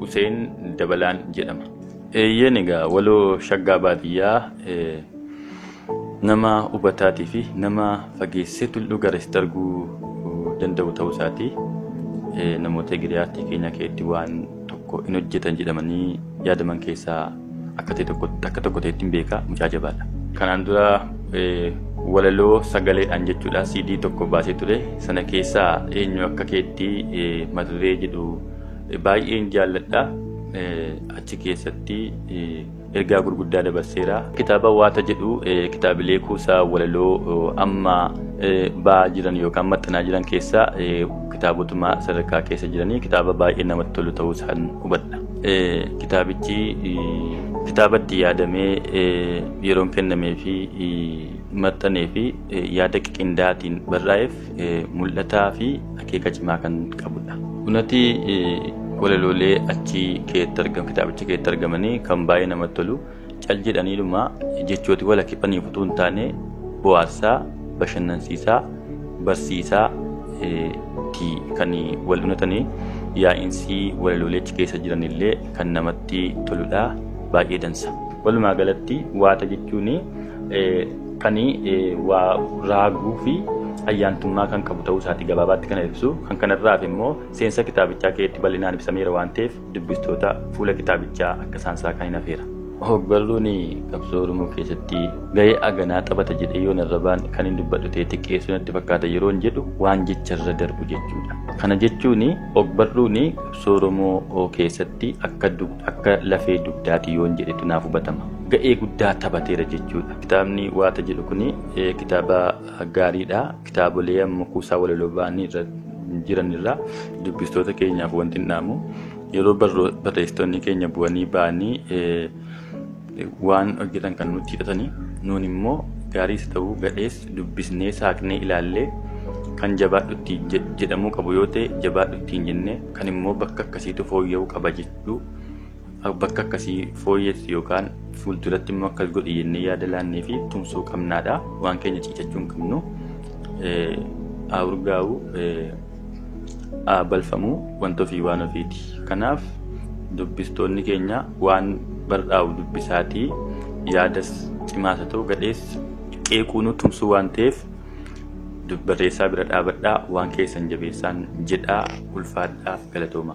Useen Dabalaan jedhama. Eeyyeen egaa waloo shaggaa baadiyyaa nama hubataatii fi nama fageessee tulluu garasitti arguu danda'u ta'uu isaati. Namoota egeree aartii keenya keessatti waan tokko hin hojjetan jedhamanii yaadaman keessaa akka ta'e tokko akka tokko ta'etti hin beeka mucaa jabaadha. Kanaan dura walaloo sagaleedhaan jechuudha CD tokko baasee ture sana keessaa eenyu akka keetti mata duree jedhu baay'een jaalladha. Achi keessatti ergaa gurguddaa dabarseera. Kitaaba waata jedhu kitaabilee kuusaa walaloo amma ba'aa jiran yookaan maxxanaa jiran keessaa kitaabotuma sadarkaa keessa jiranii kitaaba baay'ee namatti tolu ta'uu isaan hubadha. Kitaabichi kitaabatti yaadamee yeroon kennamee fi maxxanee fi yaada qiqindaa'aatiin barraa'eef mul'ataa fi akeeka cimaa kan qabudha. Bunati walaloolee achi keetti argaman kitaabicha keetti argamanii kan baay'ee namatti tolu cal jedhaniidhuma jechooti wal akifaniif utuu hin taane bohaarsaa bashannansiisaa barsiisaa ti kan wal unatanii yaa'insii walaloolee achi keessa jiran illee kan namatti toludha baay'ee dansa. Walumaa galatti waata jechuun kan waa raaguu fi ayyaantummaa kan qabu ta'uu isaati gabaabaatti kana ibsu kan kanarraaf immoo seensa kitaabichaa keessatti bal'inaan ibsameera waan ta'eef dubbistoota fuula kitaabichaa akka isaan saakan hin hafeera. Hogbarruun qabsoo Oromoo keessatti gahee aganaa taphata jedhee yoo narrabaan kan hin dubbadhu ta'e xiqqeessuu natti fakkaata yeroo hin jedhu waan jecharra darbu jechuudha. Kana jechuun hogbarruun qabsoo Oromoo keessatti akka Akka lafee dugdaati yoon jedhetu naaf hubatama. Ga'ee guddaa taphateera jechuudha. Kitaabni waata jedhu kun kitaaba gaariidha. Kitaabolee amma kuusaa walaloo ba'anii irra jiran irraa dubbistoota keenyaaf wanti hin dhaamu. Yeroo barreessitoonni keenya bu'anii ba'anii waan hojjetan kan nutti hidhatanii nuun immoo gaariis ta'uu gadhees dubbisnee saaqnee ilaallee kan jabaadhutti jedhamuu qabu yoo ta'e jabaadhutti hin jenne kan immoo bakka akkasiitu fooyya'uu qaba jedhu bakka akkasii fooyyessi yookaan fuulduratti immoo akkas godhi jennee yaada laannee fi tumsuu qabnaadha waan keenya ciichachuu hin qabnu. Awurgaa'u haa balfamu wanta ofii waan ofiiti kanaaf dubbistoonni keenya waan barraa'u dubbisaatii yaadas cimaas haa ta'u gadhees qeequunuu tumsuu waan ta'eef dub- barreessaa bira dhaabadhaa waan keessan jabeessaan jedhaa ulfaadhaaf galatooma.